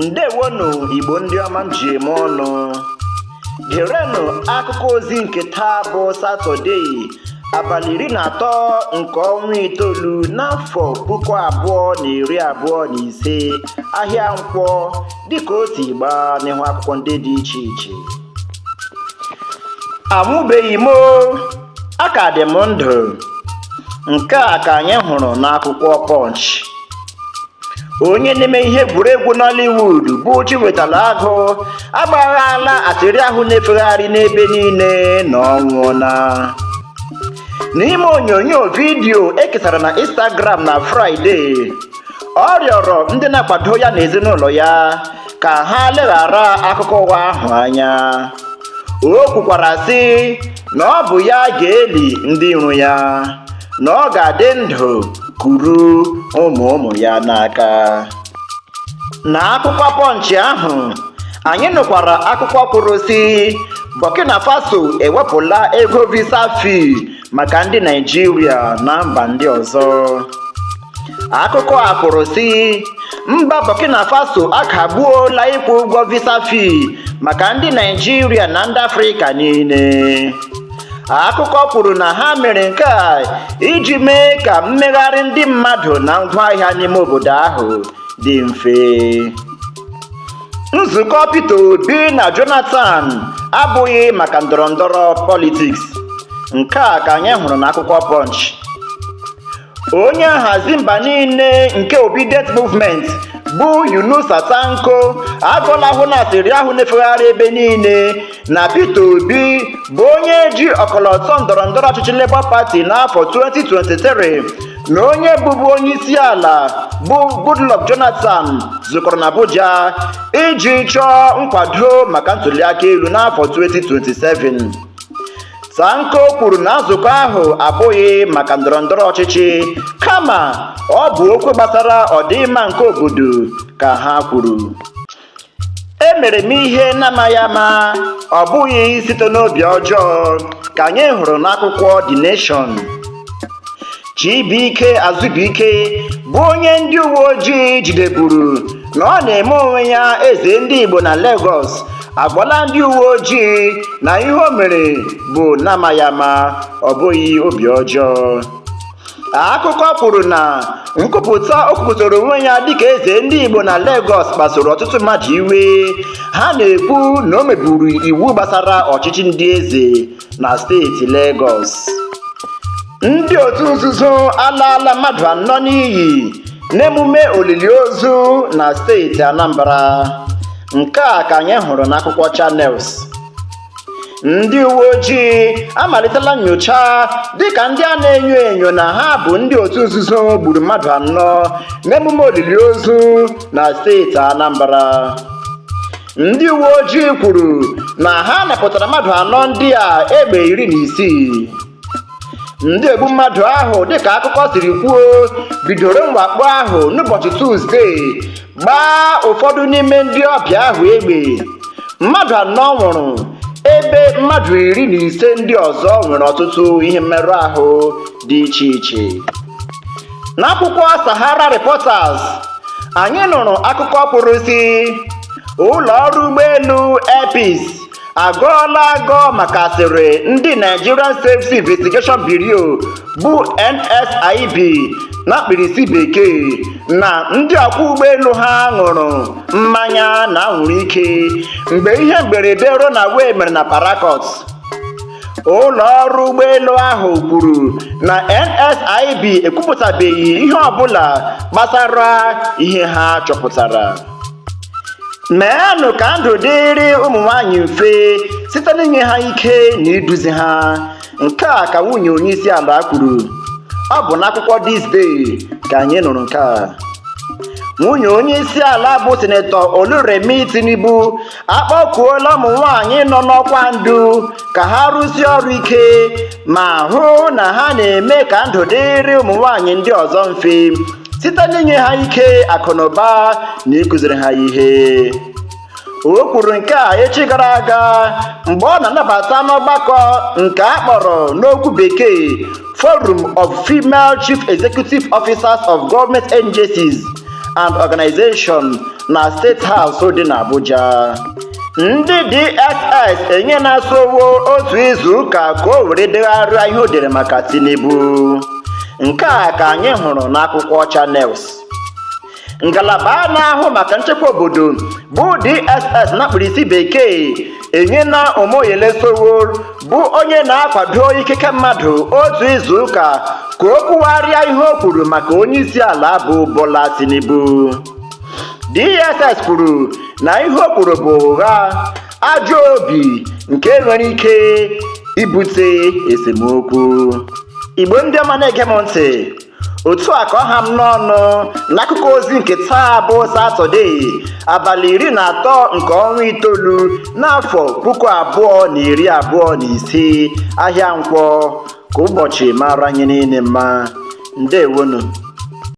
ndewonụ igbo ndị ọma m ji eme ọnụ gerenụ akụkọ ozi nke taa bụ satọde abalị iri na atọ nke ọnwa itoolu n'afọ puku abụọ na iri abụọ na ise ahịa nkwọ dịka o si gbaa n'ihu akwụkwọ ndị dị iche iche anwụbeghị m a ka dị m ndụ nke a ka anyị hụrụ n'akwụkwọ punch onye na-eme ihe egwuregwu Nollywood bụ Chiwetalu Agụ agbaghaala asịrị ahụ na-efegharị n'ebe niile na ọ nwụọla n'ime onyonyo vidiyo e kesara na Instagram na Fraịde ọ rịọrọ ndị na-akwado ya na ezinụlọ ya ka ha leghara akụkọ ụgha ahụ anya o kwukwara sị na ọ bụ ya ga-eli ndị iro ya na ọ ga-adị ndụ kuru ụmụ ụmụ ya n'aka na akwụkwọ Punch ahụ anyị nụkwara akụkọ kwuru sị Burkina Faso ewepụla ego visa fee maka ndị Naịjirịa na mba ndị ọzọ akụkọ a kwuru sị mba burkina faso akagbuola ịkwụ ụgwọ visa fee maka ndị naịjirịa na ndị afrịka niile akụkọ kwuru na ha mere nke a iji mee ka mmegharị ndị mmadụ na ngwaahịa n'ime obodo ahụ dị mfe nzukọ peter obi na jonathan abụghị maka ndọrọ ndọrọ politics nke a ka anyị hụrụ n'akwụkwọ punch onye nhazi mba niile nke obidient movement bụ yunusa tanko agọlahụna asịrị ahụ na-efegharị ebe niile na peter obi bụ onye ji ọkọlọtọ ndọrọ ndọrọ ọchịchị labour party n'afọ 2023 na onye bụbu onye isi ala bụ goodluck jonathan zukọrọ na abuja iji chọọ nkwado maka ntuliaka elu n'afọ 2027 Tanko kwuru na nzukọ ahụ abụghị maka ndọrọ ndọrọ ọchịchị kama ọ bụ okwu gbasara ọdịmma nke obodo ka ha kwuru emere m ihe n'amaghị ama ọ bụghị site n'obi ọjọọ ka anyị hụrụ n'akwụkwọ The Nation Chibuike Azubuike bụ onye ndị uwe ojii jideburu na ọ na-eme onwe ya eze ndị Igbo na Lagos agwala ndị uwe ojii na ihe o mere bụ n'amaghị ama ọ bụghị obi ọjọọ akụkọ kwuru na nkwupụta o kwupụtara onwe ya dịka eze ndị Igbo na Lagos kpasoro ọtụtụ mmadụ iwe ha na-ekwu na o meburu iwu gbasara ọchịchị ndị eze na steeti Legọs ndị otu nzuzo alaala mmadụ anọ n'iyi n'emume olili ozu na steeti Anambra nke a ka anyị hụrụ n'akwụkwọ Channels ndị uwe ojii amalitela nyocha dịka ndị a na-enyo enyo na ha bụ ndị otu nzuzo gburu mmadụ anọ n'emume olili ozu na steeti Anambra ndị uwe ojii kwuru na ha napụtara mmadụ anọ ndị a egbe iri na isii ndị egbu mmadụ ahụ dịka akụkọ siri kwuo bidoro mwakpo ahụ n'ụbọchị tuzdee gbaa ụfọdụ n'ime ndị ọbịa ahụ egbe mmadụ anọ nwụrụ ebe mmadụ iri na ise ndị ọzọ nwere ọtụtụ ihe mmerụ ahụ dị iche iche n'akwụkwọ Sahara Reporters anyị nụrụ akụkọ kwuru sị ụlọ ọrụ ụgbọelu Air Peace agọọla agọ maka asịrị ndị Nigerian Safety Investigation Bureau bụ NSIB na mkpirisi bekee na ndị ọkwọ ụgbọelu ha ṅụrụ mmanya na anwụrụ ike mgbe ihe mberede runaway mere na Port Harcourt ụlọ ọrụ ụgbọelu ahụ kwuru na NSIB ekwupụtabeghị ihe ọbụla gbasara ihe ha chọpụtara meenụ ka ndụ dịrị ụmụ nwanyị mfe site n'inye ha ike na iduzi ha nke a ka nwunye onye isi ala kwuru ọ bụ n'akwụkwọ This Day ka anyị nụrụ nke a nwunye onye isi ala bụ sinetọ Oluremi Tinubu akpọkuola ụmụ nwanyị nọ n'ọkwa ndu ka ha rụsie ọrụ ike ma hụ na ha na-eme ka ndụ dịrị ụmụ nwanyị ndị ọzọ mfe site n'inye ha ike akụnụba na ịkụziri ha ihe o kwuru nke a echi gara aga mgbe ọ na-anabata n'ọgbakọ nke a kpọrọ n'okwu bekee forum of female chief executive officers of government agencies and organizations na State House dị n'Abuja ndị DSS enyela Sowore otu izu ụka ka o were degharịa ihe o dere maka Tinubu nke a ka anyị hụrụ n'akwụkwọ Channels ngalaba na-ahụ maka nchekwa obodo bụ DSS na mkpirisi bekee enyela Omoyele Sowore bụ onye na-akwado ikike mmadụ otu izu ụka ka o kwugharịa ihe o kwuru maka onye isi ala bụ Bola Tinubu DSS kwuru na ihe o kwuru bụ ụgha ajọ obi nke nwere ike ibute esemokwu igbo ndị ọma na-ege m ntị otu a ka ọ ha m n'ọnụ n'akụkọ ozi nke taa bụ satọde abalị iri na atọ nke ọnwa itoolu n'afọ puku abụọ na iri abụọ na ise ahịa nkwọ ka ụbọchị mara anyị niile mma ndewonu